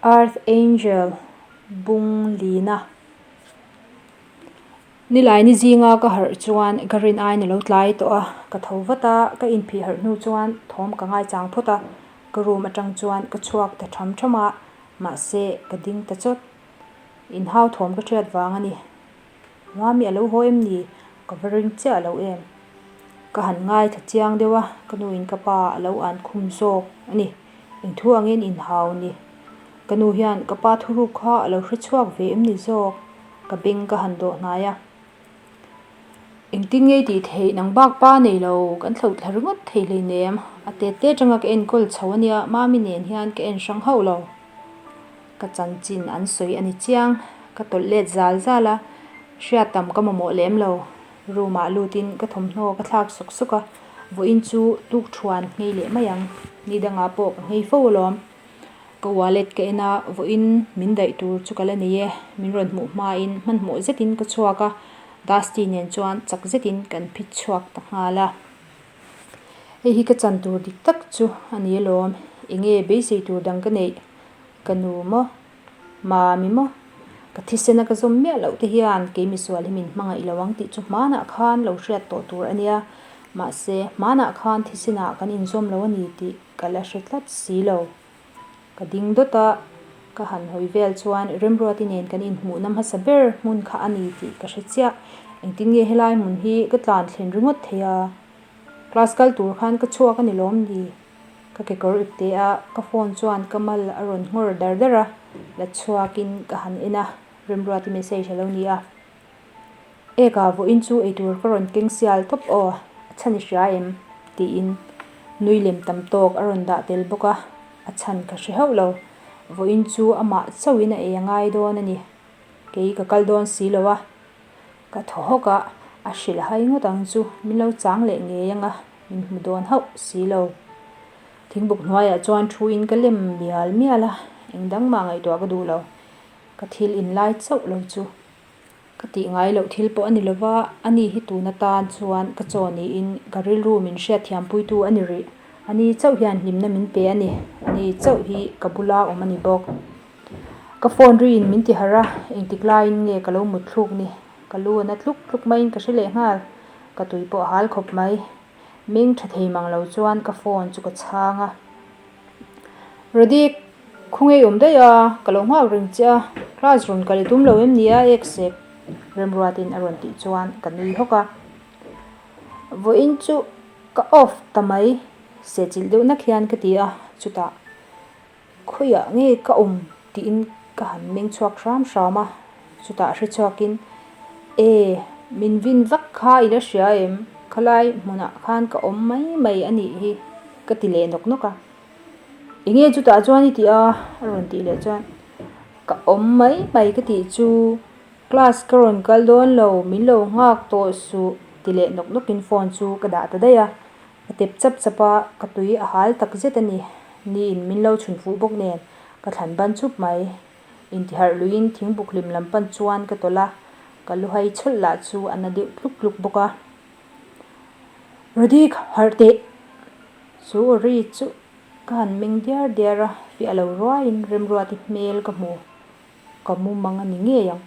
Earth Angel bung lina nilai ni zinga ka harh chuan ka rin aina lo tlai tawh a ka tho vat a ka in phih harh hnu chuan thawm ka ngai chang phawt a ka room atang chuan ka chhuak ta tham tham a mahse ka ding ta chawt in hau thawm ka thiat vang a ni. Mami alo haw em ni? Ka va ring chiah lo em. Ka han ngai thla chiang deuh a, ka nu in ka pa alo an khum zawk a ni. Inthuang in inhau ni. Ka nu hian ka pa thuruk kha alo hre chhuak ve em ni zawk? Ka beng ka han dawh hnai a. Engtin ngei tih theih nang bak pa nei lo, kan hloh thla ringawt thei hleinem. A tet te tanga ka enkawl chho a nia, Mami nen hian ka en hrang hauh lo. Ka chanchin an sawi a ni chiang. Ka tawlh let zal zal a, hriat tam ka mamawh lem lo. Room ah lut in ka thawmhnaw ka thlak suk suk a, vawi in chu tuk thuan ngei leh mai ang. Ni dang ah pawh ka ngei fo alawm. Ka wallet ka en a, vawi in min daih tur chu ka la nei e. Min rawn hmuh hma in hmanhmawh zet in ka chhuak a, Dusty nen chuan chak zet in kan phit chhuak ta nghal a. Hei hi ka chan tur dik tak chu a ni alawm. Enge beisei tur dang ka neih? Ka nu maw? Mami maw? Ka thisena ka zawm miah loh te hian kei misual hi min hmang a ilo ang tih chu hmanah khan lo hriat tawh tur a nia. Mahse, hmanah khan thisenah kan inzawm lo a ni tih ka la hre tlat si lo. Ka ding dawt a, ka han hawi vel chuan Remruati nen kan inhmuhna hmasa ber hmun kha a ni tih ka hre chiah. Engtin nge helai hmun hi ka tlan thlen ringawt thei a, class kal tur khan ka chhuak a ni lawm ni? Ka kekawr ipte a, ka phone chuan ka mal a rawn nghawr dar dar a, la chhuakin ka han en a, Rimruati message a lo ni a, Ekah vawiin chu eitur ka rawn keng sial tawp aw, a chhan i hria em? tiin nui lem tam tawk a rawn dah tel bawk a, a chhan ka hre hauh lo, vawiin chu amah chauhin a ei a ngai dawn a ni, kei ka kal dawn si lo a. Ka thaw hawk a, a hrilh hai ngawt ang chu, min lo chang leh ngei ang a, min hmu dawn hauh si lo. Thingbuk hnuaiah chuan thu in ka lem mial mial a, eng dang mah ngaihtuah ka duh lo, ka thil in lai chauh lo chu. Ka tih ngai loh thil pawh a ni lo va, a ni hi tun atan chuan ka chaw niin ka rilru min hriat thiam pui tu a ni rih. A ni chauh hian hlimna min pe a ni, a ni chauh hi ka bula awm a ni bawk. Ka phone ri in min ti harh a, engtik laiin nge ka lo mut thluk ni? Ka lu a na tluk tluk maiin ka hre leh nghal. Ka tui pawh a hal khawp mai. Meng tha thei mang lo chuan ka phone chu ka chhang a. Radik, khawngei awm daih a, ka lo nghak reng che a, class rawn kal tum lo em nia ek sek? Remruatin a rawn tih chuan ka nui hawk a. Vawiin chu ka off ta mai, sehchilh deuh nak hian ka ti a chutah. Khawiah nge ka awm tiin ka han meng chhuak hram hram a, chutah hre chhuak in, E, min vin vak kha i la hria em? Khalai hmunah khan ka awm mai mai a nih hi, ka ti leh nawk nawk a. Enge chutah chuan i ti a? A rawn tih leh chuan, Ka awm mai mai ka tih chu, class ka rawn kal dawn lo, min lo nghak tawh suh ti leh nawk nawk in phone chu ka dah ta daih a, A tep chap chap a, ka tui a hal tak zet a ni. Niin min lo chhun fuh bawk nen ka thlan ban chhup mai. Intiharh luiin thing buk hlim lam pan chuan ka tawlh a, ka lu hai chawlh lah chu a na deuh tluk tluk bawk a. Rudik, harh teh! Chu Ri chu ka han meng diar diar a, fiah lo ruaiin remruati hmel ka hmu. Ka mum ang a ni ngei ang.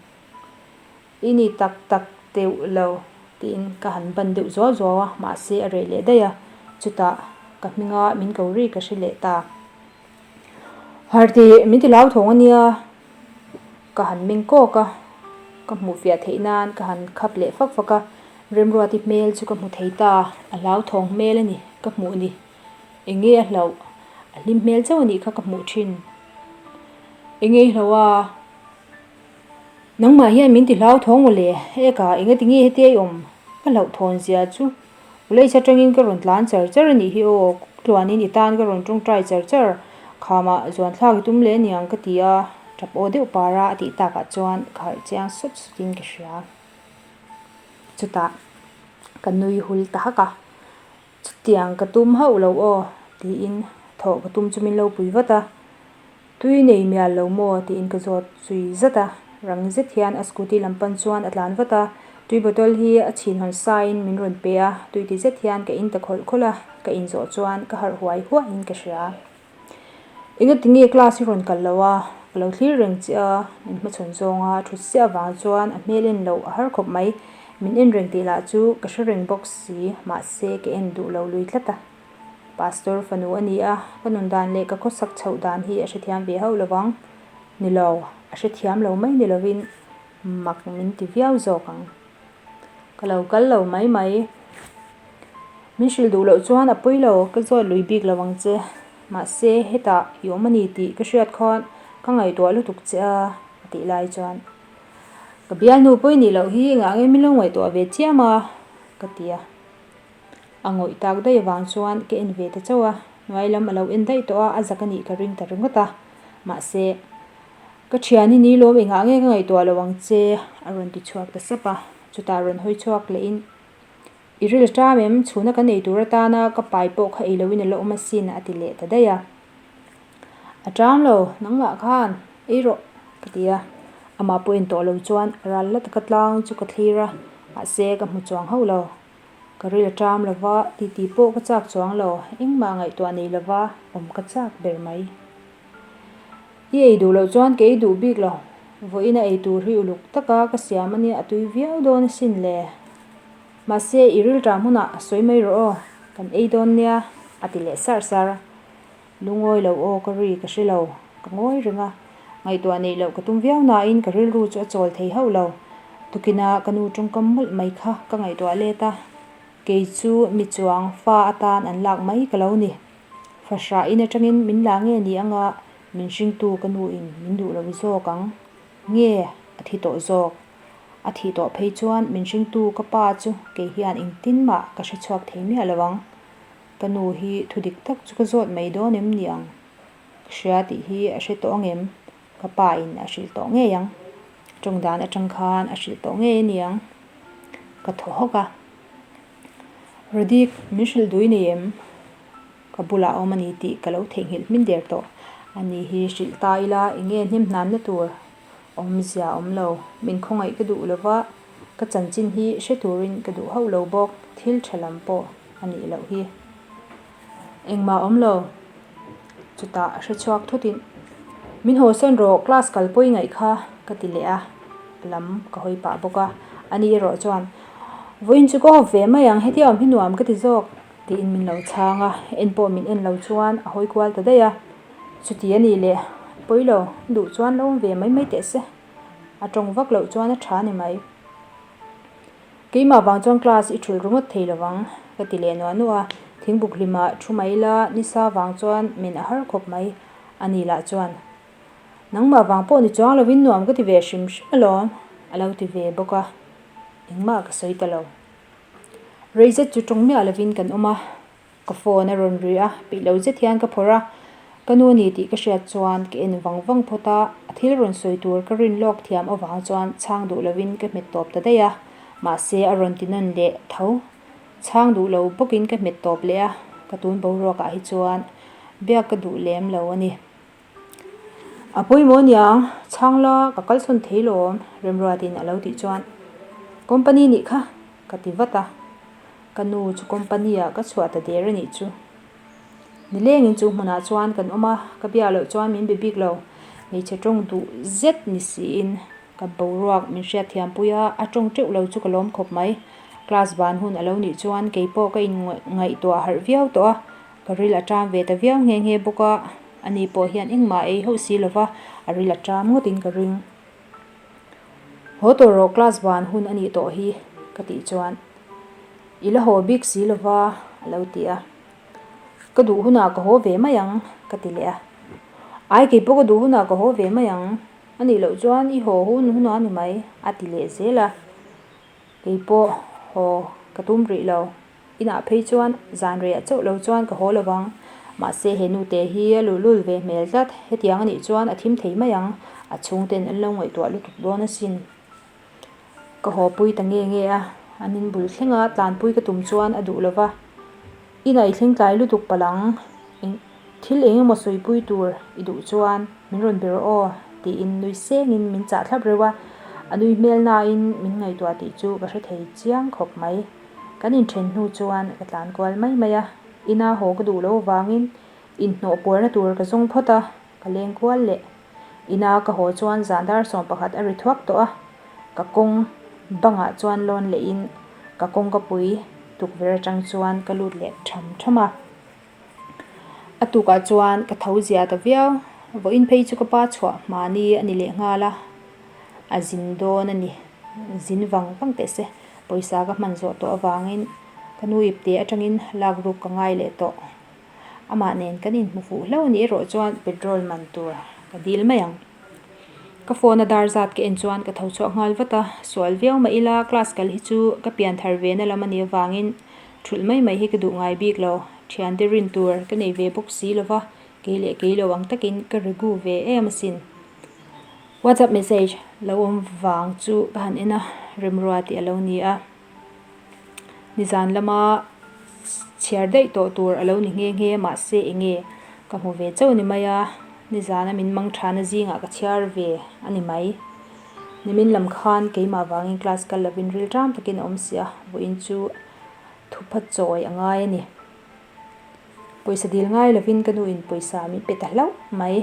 I ni tak tak teuh lo, tiin ka han ban deuh zuau zuau a, mahse a rei leh daih a, chutah ka hminga min ko ri ka hre leh ta. Harti, min ti lau thawng a nia, ka han meng kawk a, ka hmuh fiah theih nan ka han khap leh fak fak a, Remruati hmel chu ka hmu thei ta, a hlau thawng hmel a ni, ka hmuh ni, eng nge a hlauh, a hlim hmel chauh a nih kha ka hmuh thin, eng nge i hlauh a? Nangmah hian min tihlau thawng maw le? Eka, eng ati nge hetia i awm? Ka hlauh thawn zia chu. Ulei chha tangin ka rawn tlan char char a nih hi aw, kuk tluanin i tan ka rawn tawngtai char char. Khamah zuan thlak i tum leh niang ka ti a, tap aw deuh par a, a tih takah chuan ka harh chiang sawt sawtin ka hria. Chutah ka nui hul ta hak a. Chutiang ka tum hauh lo aw, tiin thawh ka tum chu min lo pui vat a. Tui nei mial lo maw, tiin ka zawt zui zat a. Rang zet hian a scooty lam pan chuan a tlan vat a. Tui bottle hi a chhin hawn sain min rawn pe a, tui ti zet hian ka in ta khawlh khawlh a, ka in zawh chuan ka harh huai huahin ka hria. Eng a ti nge class hi rawn kal lo a, ka lo thlir reng che a, min hmachhawn zawng a, thut siah avang chuan a hmel en loh a har khawp mai, min en reng tih lah chu ka hre reng bawk si, mahse ka en duh lo lui tlat a, Pastor fanu a ni a, ka nun dan leh ka khawsak chhoh dan hi a hrethiam ve hauh lovang ni lo, a hrethiam lo mai ni lovin mak min ti viau zawk ang. ka lo kal lo mai mai, min hrilh duh loh chuan a pui lo ka zawt lui bik lo ang che, mahse hetah i awm a ni tih ka hriat khan ka ngaihtuah lutuk che a, a tih lai chuan ka bialnu pawh i nih loh hi engah angin min lo ngaihtuah ve chiam a ka ti a, a ngawih tak daih avang chuan ka en ve ta chauh a, hnuai lam a lo en daih tawh a, a zak a nih ka ring ta ringawt a, mahse. Ka thian i nilawm i ngah nge ka ngaihtuah lo ang che a rawn ti chhuak ta sap a, chutah rawn hawi chhuak leh in, I ril ṭam em, chhuna kan ei tur atana ka pai pawh kha eiloin a la awm asin a ti leh ta daih a, a ṭam lo, nangmah khan eirawh ka ti a, amah pawh en tawh lo chuan ral la taka tlang chu ka thlir a, mahse ka hmu chuang hauh lo, ka ril ṭam lo va, titi pawh ka chak chuang lo, engmah ngaihtuah nei lova awm ka chak ber mai. I ei duh loh chuan kei duh bik lo vawiin a ei tur hi uluk taka ka siam a nia a tui viau dawn asin le. Mahse i rilṭa hmunah sawi mai rawh aw kan ei dawn nia a ti leh sar sar. Lungawi lo aw ka ri ka hre lo ka ngawi reng a, ngaihtuah neih loh ka tum viau nain ka rilru chu a chawl thei hauh lo. Tukina ka nu ṭawngkam mawlh mai kha ka ngaihtuah let a, kei chu mi chuang fa atan an lak mai ka lo ni. Fahrah in atangin min la nge ni anga min hringtu ka nu in min duh lo zawk ang nge a thi tawh zawk. A thih tawh phei chuan min hringtu ka pa chu kei hian engtin mah ka hre chhuak thei miah lo ang. Ka nu hi thu dik tak chu ka zawt mai dawn em ni ang? Ka hria tih hi a hre tawh ang em? Ka pa in a hrilh tawh ngei ang. Tawng dan atang khan a hrilh tawh ngei a ni ang ka thaw hawk a. Rudik, min hrilh dui nei em? Ka bulah a awm a ni tih ka lo theihnghilh hmin der tawh. A ni hi, hrilh ta ila, eng nge hnem hnanna tur awmzia a awm lo. Min khawngaih ka duh lo va, ka chanchin hi hre turin ka duh hauh lo bawk, thil tha lam pawh a nih loh hi. Engmah awm lo. Chutah a hre chhuak thutin, Min haw sen rawh, class kal pawi ngaih kha, ka ti leh a, a lam ka hawi pah bawk a. A nih erawh chuan, Vawiin chu ka hawp ve mai ang, hetiang awm hi nuam ka ti zawk, tiin min lo chhang a, en pawh min en lo chuan a hawi kual ta daih a. Chuti a nih leh, pawi lo, duh chuan lo awm ve mai mai teh se. A tawng vak loh chuan a tha ni mai. Keimah vang chuan class i ṭhul ringawt thei lo vang ka ti leh nuah nuah a, thingbuk hlima ṭhu mai ila ni sa vang chuan min a har khawp mai a nih lah chuan. Nangmah vang pawh ni chuang lovin nuam ka ti ve hrim hrim alawm a lo ti ve bawk a, engmah ka sawi ta lo. Reizet chu ṭawng miah lovin kan awm a. Ka phone a rawn ri a, peih lo zet hian ka phawrh a, ka nu a ni tih ka hriat chuan ka en vang vang phawt a, a thil rawn sawi tur ka rin lawk thiam avang chuan chhang duh lo in ka hmet tawp ta daih a, mahse a rawn ti nawn leh tho chhang duh lo bawk in ka hmet tawp leh a, ka tun boruak ah hi chuan biak ka duh lem lo a ni. A pawimawh nia chhang la ka kalsawn thei lawm Remruat in a lo tih chuan company nih kha ka ti vat a, ka nu chu company ah ka chhuah ta der anih chu. Ni leng in chu hmunah chuan kan awm a, ka bia loh chuan min be bik lo, hmeichhe tawng duh zet ni si in ka boruak min hriat thiam pui a, a tawng teuh lo chu ka lawm khawp mai. Class van hun a lo nih chuan kei pawh ka in ngaihtuah harh viau tawh a. Ka ril a ṭam ve ta viau nghe nghe bawk a, a ni pawh hian engmah ei hauh si lova a ril a ṭam ngawtin ka ring. Haw tawh rawh class van hun a nih tawh hi ka tih chuan i la haw bik si lova a lo ti a. Ka duh hunah ka haw ve mai ang ka ti leh a. Ai keipawh ka duh hunah ka haw ve mai ang, a nih loh chuan i haw hun hunah a ni mai a ti leh zel a. Kei pawh haw ka tum rih lo. Inah phei chuan zanriah chauh lo chuan ka haw lo vang. Mahse he nute hi a luhlul ve hmel tlat. Hetiang anih chuan a thim thei mai ang. A chhung ten an lo ngaihtuah lutuk dawn asin. Ka hawpui ta nge nge a, an inbul thlenga tlanpui ka tum chuan a duh lo va. Inaitling tlai lutuk palang eng thil eng emaw sawipui tur i duh chuan min rawn ber aw tiin nui sengin min chah thlap reuh a, a nui hmel nain min ngaihtuah tih chu ka hre thei chiang khawp mai. Kan inthen hnu chuan ka tlan kual mai mai a, ina haw ka duh lo vangin inhnawh puarna tur ka zawng phawt a. Ka leng kual leh. Ina ka haw chuan zahdar sawm pakhat a ri thuak tawh a, ka kawng bangah chuan lawn leiin ka kawng ka pui, tukverh atang chuan ka lut leh ṭham ṭham a. A tukah chuan ka tho zia ta viau, vawiin phei chu ka pa chhuah mahni a ni leh nghal a, a zin dawn a ni. Zin vang vang teh se, pawisa ka hman zawh tawh avangin ka nu ipte atangin lak ruk ka ngai leh tawh. Amah nen kan inhmu fuh hlo nih erawh chuan petrol man tur ka dil mai ang. Ka phone a dar zat ka en chuan ka tho chhuak nghal vat a, sual viau mah ila class kal hi chu ka pian thar ve na lam a ni avangin thulh mai mai hi ka duh ngai bik lo. Thian te rin tur ka nei ve bawk si lova, kei leh kei lo ang takin ka ri gu ve em asin. WhatsApp message lo awm vang chu ka han en a, remrua tih a lo ni a. Nizan lama chhiar daih tawh tur a lo ni nghe nghe a, mahse eng nge? Ka hmu ve chauh ni mai a, Nizana min mang thana zingah ka chhiar ve a ni mai. Nimin lam khan keimah vangin class kal lovin rilṭam takin a awm si a, vawiin chu thup a chawi a ngai a ni. Pawisa dil ngai lovin ka nu in pawisa min pe ta hlauh mai.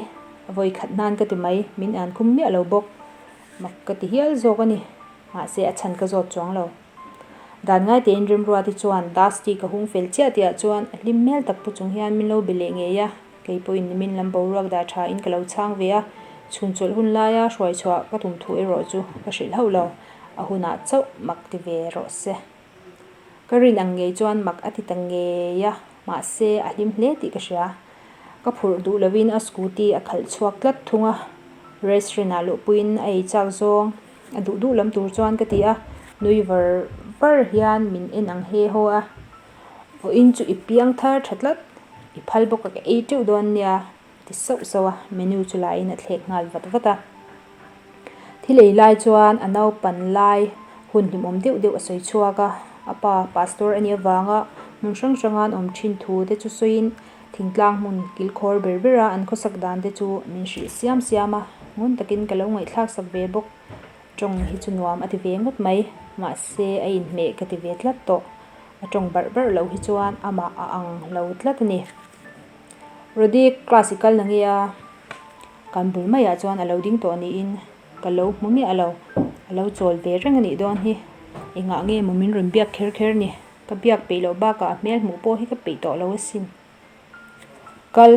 A vawi khat nan ka ti mai, min an kum miah lo bawk. Mak ka ti hial zawk a ni. Mahse a chhan ka zawt chuang lo. Dan ngai tein Rimruat hi chuan Dusty ka hung fel chiah tih ah chuan a hlim hmel tak pawh chung hian min lo be leh ngei a. Kei pawh in min lam boruak dah tha in ka lo chhang ve a. Chhun chawlh hun lai a hruai chhuah ka tum thu erawh chu ka hrih hlauh lo. A hunah chauh mak ti ve rawh se. Ka rin ang ngei chuan mak a ti ta ngei a, mahse a hlim hle tih ka hria. Ka phurh duh lovin a scooty a khalh chhuak tlat thung a, restaurant ah luhpuiin a ei chak zawng. A duh duh lam tur chuan ka ti a, nui var var hian min en ang he haw a, vawin chu i piang thar tha tlat, i phal bawk a ka ei teuh dawn nia. ti sauh sauh a, menu chu lahin a thlek nghal vat vat a. Thil ei lai chuan a naupan lai hun hlimawm deuh deuh a sawi chhuak a, a pa pastor a nih avanga hmun hrang hranga an awm thin thu te chu sawiin thingtlang hmun kilkhawr ber ber a an khawsak dan te chu min hril siam siam a, ngun takin ka lo ngaihthlak sak ve bawk, tawng hi chu nuam a ti ve ngawt mai, mahse a inhmeh ka ti ve tlat tawh, a tawng barh barh loh hi chuan amah a ang lo tlat a ni. Rudy, Class i kal na nge a? Kan bul maiah chuan a lo ding tawh niin ka lo hmu miah a lo. A lo chawl ve reng a nih dawn hi. I ngah nge maw min rawn biak kher kher ni? Ka biak peih loh bakah a hmel hmuh pawh hi ka peih tawh lo asin. Kal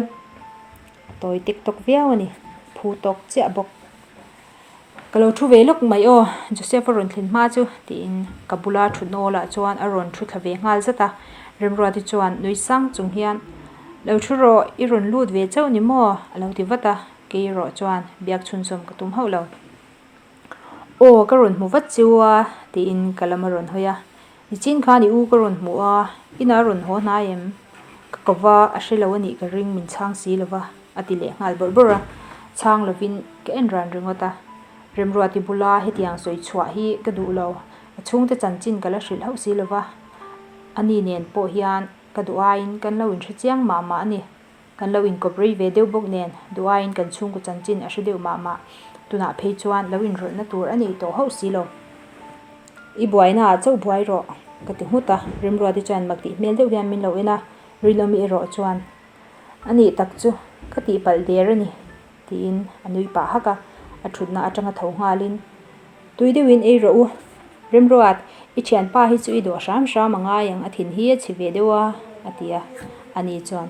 tawi tek tawk viau a ni. Phu tawk chiah bawk. Ka lo thu ve lawk mai aw, Joseph a rawn thlen hma chu, tiin ka bula thu nawlah chuan a rawn thu thla ve nghal zat a. Remruati chuan nui sang chung hian, Lo thu rawh, i rawn lut ve chauh ni maw? a lo ti vat a, keirawh chuan biak chhunzawm ka tum hauh lo. Aw, ka rawn hmu vat chu a, tiin ka lam a rawn hawi a. Nichin kha ni u ka rawn hmu a, inah rawn haw hnai em? Ka kova a hre lo a nih ka ring min chhang si lova a ti leh nghal bawrh bawrh a, chhang lovin ka en ran ringawt a. Remruah ti bula hetiang sawi chhuah hi ka duh lo, a chhungte chanchin ka la hrilh hauh si lova, ani nen pawh hian ka duh aiin kan lo inhre chiang mah mah a ni. Kan lo inkawprei ve deuh bawk nen, duhaiin kan chhungkaw chanchin a hre deuh mah mah. Tunah phei chuan lo inrawlhna tur a nei tawh hauh si lo. I buainaah chauh buai rawh, ka ti nghut a. Rimruate chuan mak tih hmel deuh hian min lo en a, rilawm i erawh chuan a nih tak chu ka tih palh der a ni. Tiin a nui pah hak a, a thutna atanga tho nghalin, Tui deuhin ei rawh u, Rimruat, i thianpa hi chu i dawh hram hram a ngai ang, a thin hi a chhi ve deuh a, a ti a. Ani chuan,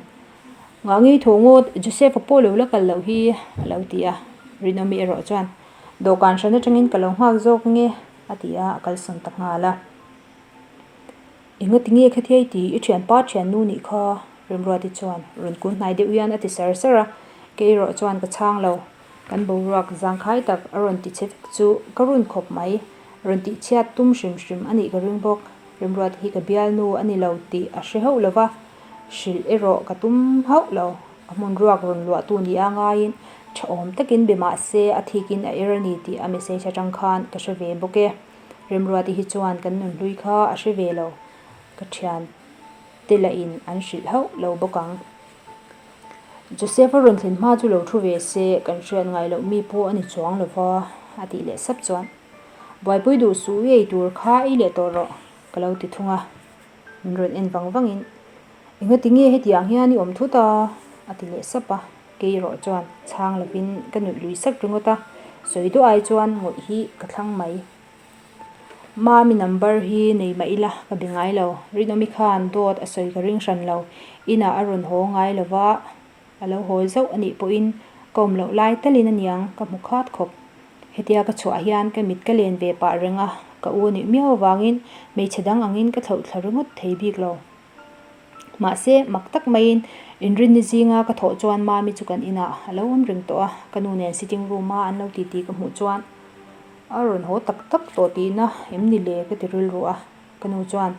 Nghah ngei tho ngaw, Joseph-a pawh lo la kal loh hi, a lo ti a. Rinawmi erawh chuan, Dawhkan hran atangin ka lo nghak zawk nge, a ti a, a kalsawn ta nghal a. Engla tinge kha thiai ti i thian pat thian nu nih kha? Rimruati chuan rawn kun hnai deuh hian a ti sar sar a, Keirawh chuan ka chhang lo, kan boruak zangkhai tak a rawn ti che vek chu ka run khawp mai, rawn tih chhiat tum hrim hrim a nih ka ring bawk, Rimruati hi ka bialnu a ni lo tih a hre hauh lo va, hrilh erawh ka tum hauh lo, a hmun ruak rawn luahtu nih a ngaiin tha awm takin bemahse a thikin a er a ni tih a message atang khan ka hre ve bawk e. Remruati hi chuan kan nun hlui kha a hre ve lo, ka thian te la in an hrilh hauh lo bawk ang. Joseph-a rawn thlen hma chu lo thu ve se, kan hriat ngai loh mi pawh a ni chuang lo va, a tih leh sap chuan. Buaipui duh suh ei tur kha ei leh tawh rawh, ka lo ti thung a. Min rawn en vang vangin, Engla tinge hetiang hian i awm thut a? a ti leh sap a. Keiraw chuan chhang lovin ka nuih lui sat ringawt a, sawi duah ai chuan ngawih hi ka thlang mai. Mami number hi nei mah ila ka be ngai lo. Rinawmi khan dawt a sawi ka ring hran lo. Inah a rawn haw ngai lova A lo hawi zauh a nih pawhin ka awm loh lai telin a niang ka hmu khat khawp. Hetia ka chhuah hian ka mit ka len ve pah reng a, ka u a nuih miau avangin hmeichhe dang angin ka thloh thla ringawt thei bik lo. Mahse, mak tak maiin Inrinni zinga ka thawh chuan Mami chu kan inah a lo awm ring tawh a, ka nu nen sitting room a an lo titi ka hmuh chuan a rawn haw tak tak tawh tihna em ni le ka ti rilru a. Ka nu chuan,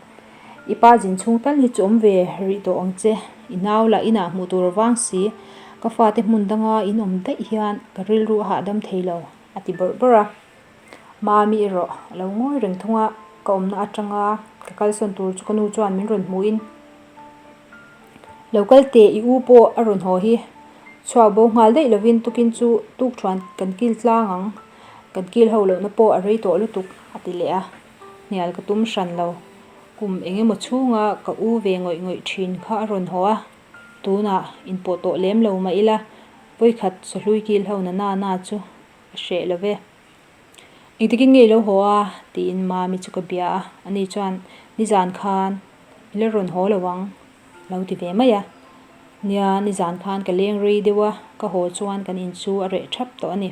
I pa zin chhung tal hi chu awm ve rih tawh ang che, inau lah inah hmuh tur avang si, ka fate hmun danga in awm daih hian ka rilru a hahdam thei lo, a ti bawrh bawrh a. Mami erawh a lo ngawi reng thung a, ka awmna atanga ka kalsawn tur chu ka nu chuan min rawn hmuhin, Lo kal teh, i u pawh a rawn haw hi, chhuah bo nghal daih lovin tukin chu tuk thuan kan kil tlang ang, kan kil ho lohna pawh a rei tawh lutuk, a ti leh a. hnial ka tum hran lo, kum eng emaw chhunga ka u ve ngawih ngawih thin kha a rawn haw a, tunah in pawh tawh lem lo mah ila pawikhat sawhlui kil ho na nana chu a hreh lo ve. Engtikin nge i lo haw a? tiin Mami chu ka bia a, ani chuan nizan khan i la rawn haw lo ang alo ti ve mai a, nia nizan khan ka leng rei deuh a, ka haw chuan kan in chu a reh thap tawh ani.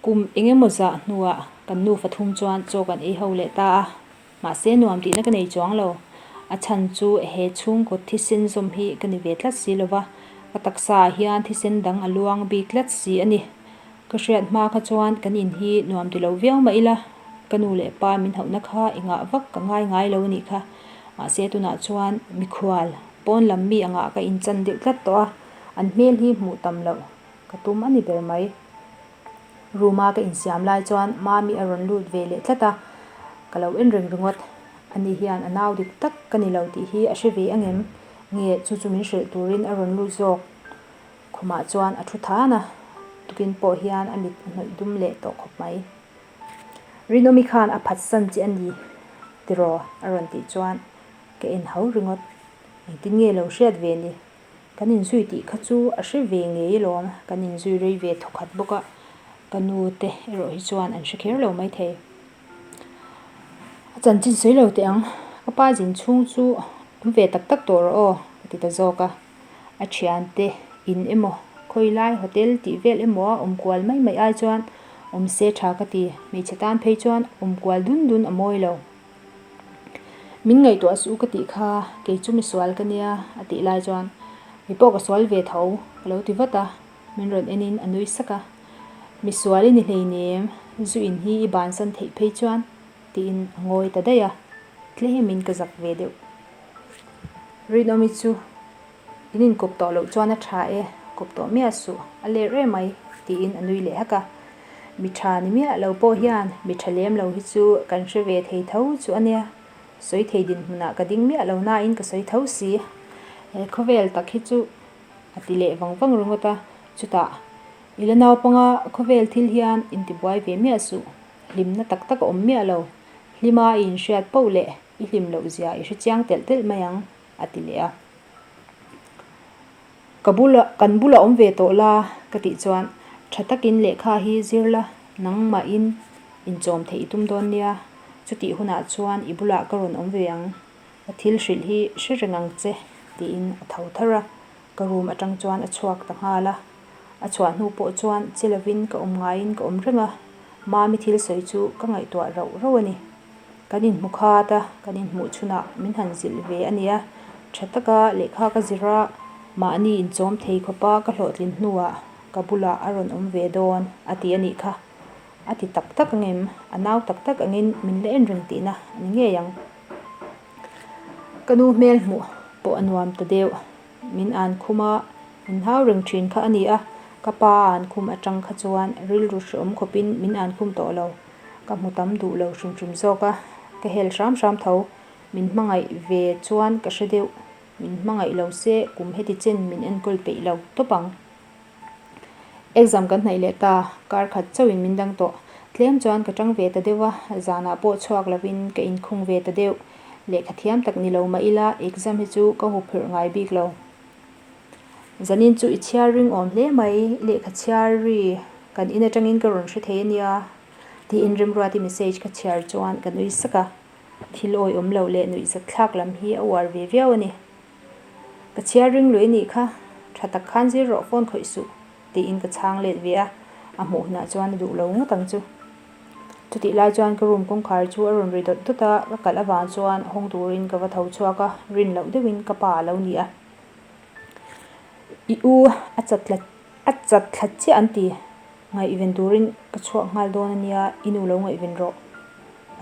Kum eng emaw zah hnuah kan nu fathum chuan chaw kan ei ho leh ta a, mahse nuam tihna ka nei chuang lo. A chhan chu he chhungkut thisen zawm hi ka ni ve tlat si lova, ka taksa ah hian thisen dang a luang bik tlat si a ni. Ka hriat hma kha chuan kan in hi nuam ti lo viau mah ila, ka nu leh pa min hauhna kha i ngah vak ka ngai ngai lo a nih kha. Mahse tunah chuan mikhual pawn lam mi angah ka in chan deuh tlat tawh a, an hmel hi hmuh tam loh. Ka tum a ni ber mai. Room a ka insiam lai chuan Mami a rawn lut ve leh tlat a, ka lo en ring ringawt. A ni hian a nau dik tak ka ni lo tih hi a hre ve angem? Nge chu chu min hrilh turin a rawn lut zawk? Khumah chuan a thu than a, tukin pawh hian a mit a hnawih dum leh tawh khawp mai. Rinawmi khan a phatsan che a ni tiraw? a rawn tih chuan ka en hau ringawt. Engtin nge lo hriat ve ni? Kan inzui tih kha chu a hre ve ngei alawm, kan inzui rei ve thaw khat bawk a, ka nu te erawh hi chuan an hre kher lo mai thei. A chanchin sawi lo teh ang, ka pa zin chhung chu awm ve tak tak tawh rawh aw, ka ti ta zawk a, a thian te in emaw, khawi lai hotel tih vel emaw a awm kual mai mai ai chuan awm se tha ka ti, hmeichhe tan phei chuan awm kual dun dun a mawi lo. Min ngaihtuah a suh ka tih kha, kei chu mi sual ka nia, a tih lai chuan mi pawh ka sual ve tho, ka lo ti vat a, min rawn enin a nui sak a. Mi sual i ni hleinem, zu in hi i bansan theih phei chuan, tiin a ngawi ta daih a, tlem in ka zak ve deuh. Rinawmi chu. In inkawp tawh loh chuan a tha e, kawp tawh miah suh, a ler e mai, tiin a nui leh hak a. Mi tha ni miah lo pawh hian mi tha lem lo hi chu kan hre ve thei tho chu a nia, sawi thei dinhmunah ka ding miah lo nain ka sawi tho si. He khawvel tak hi chu a ti leh vang vang ringawt a, chutah i la naupanga khawvel thil hian in ti buai ve miah suh, hlimna tak tak a awm miah lo, hlima i inhriat poh leh i hlim lohzia i hre chiang telh telh mai ang. a ti leh a. Ka bula, kan bula awm ve tawh la ka tih chuan tha takin lehkha hi zir la, nangmahin inchawm theih i tum dawn nia, chutih hunah chuan i bulah ka rawn awm ve ang, ka thil hrilh hi hre reng ang che, tiin a tho thar a, ka room atang chuan a chhuak ta nghal a, a chhuah hnu pawh chuan che lovin ka awm ngaiin ka awm reng a, Mami thil sawi chu ka ngaihtuah rauh rauh a ni. Kan inhmu khat a, kan inhmuh chhunah min han zilh ve a nia. Tha taka lehkha ka zir a, mahni inchawm thei khawpa ka hlawhtlin hnuah ka bulah a rawn awm ve dawn a ti a nih kha. A ti tak tak ang em? A nau tak tak angin min la en reng tihna a ni ngei ang. Ka nu hmel hmuh pawh a nuam ta deuh. Min an khum a, min hau reng thin kha a ni a. Ka pa an khum atang kha chuan rilru hre awm khawpin min an khum tawh lo. Ka hmu tam duh lo hrim hrim zawk a, ka hel hram hram tho. Min hmangaih ve chuan ka hre deuh. Min hmangaih lo se kum heti chen min enkawl peih lo tawp ang. Exam kan hnaih leh ta, kar khat chauhin min dang tawh. Tlem chuan ka chang ve ta deuh a, zanah pawh chhuak lovin ka inkhung ve ta deuh. Lehkha thiam tak ni lo mah ila exam hi chu ka hawhphawrh ngai bik lo. Zanin chu i chhiar ring awm hle mai, i lehkha chhiar ri, kan in atangin ka rawn hre thei a nia, tih in Rimruati message ka chhiar chuan ka nui sak a, thil awi awm loh leh nuih zat thlak lam hi a uar ve viau a ni. Ka chhiar ring luih a nih kha, tha tak khan zir rawh phone khawih suh, tiin ka chhang let ve a, a hmuh hunah chuan a duh lo ngawt ang chu. chutih lai chuan ka room kawngkhar chu a rawn ri dawt dawt a, ka kalh avang chuan hawng turin ka va tho chhuak a, rin loh deuh in ka pa a lo ni a, i u a chat tlat a chat thlat chiah an ti, ngaihven turin ka chhuak nghal dawn a nia, i nu lo ngaihven rawh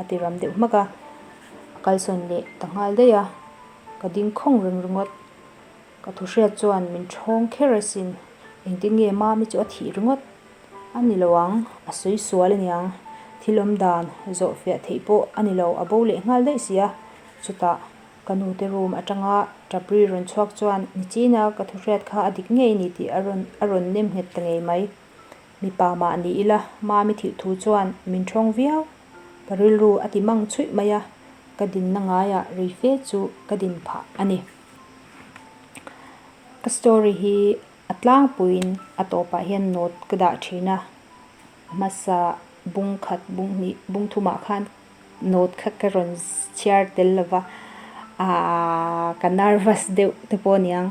a ti ram deuh hmak a, a kalsawn leh ta nghal daih a, ka dingkhawng ring ringawt. Ka thuhriat chuan min thawng kher asin, engtinnge Mami chu a thih ringawt a ni lo ang, a sawi sual a niang, thil awm dan zawh fiah theih pawh a ni lo, a bo leh nghal daih si a. Chutah ka nute room atanga Tabri rawn chhuak chuan nichina ka thuhriat kha a dik ngei ni tih a rawn a rawn nem nghet ta ngei mai. Mipa mah ni ila Mami thih thu chuan min thawng viau, ka rilru a ti mang chhuih mai a, ka dinna ngaiah ri fe chu ka din phah a ni. Ka story hi a tlangpuiin a tawpah hian note ka dah thin a, hmasa bung khat bung hnih bung thumah khan note kha ka rawn chhiar tel lo va, aaa ka nervous deuh te pawh a niang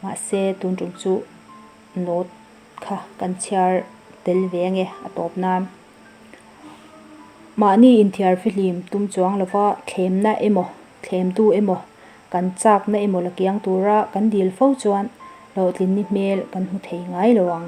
mahse tun tum chu note kha kan chhiar tel ve a nge a tawp nan. Mahni inthiarfi hlim tum chuang lova thlemna emaw, thlemtu emaw, kan chakna emaw la kiang tura kan dil fo chuan hlawhtlin ni hmel kan hmu thei ngai lo ang.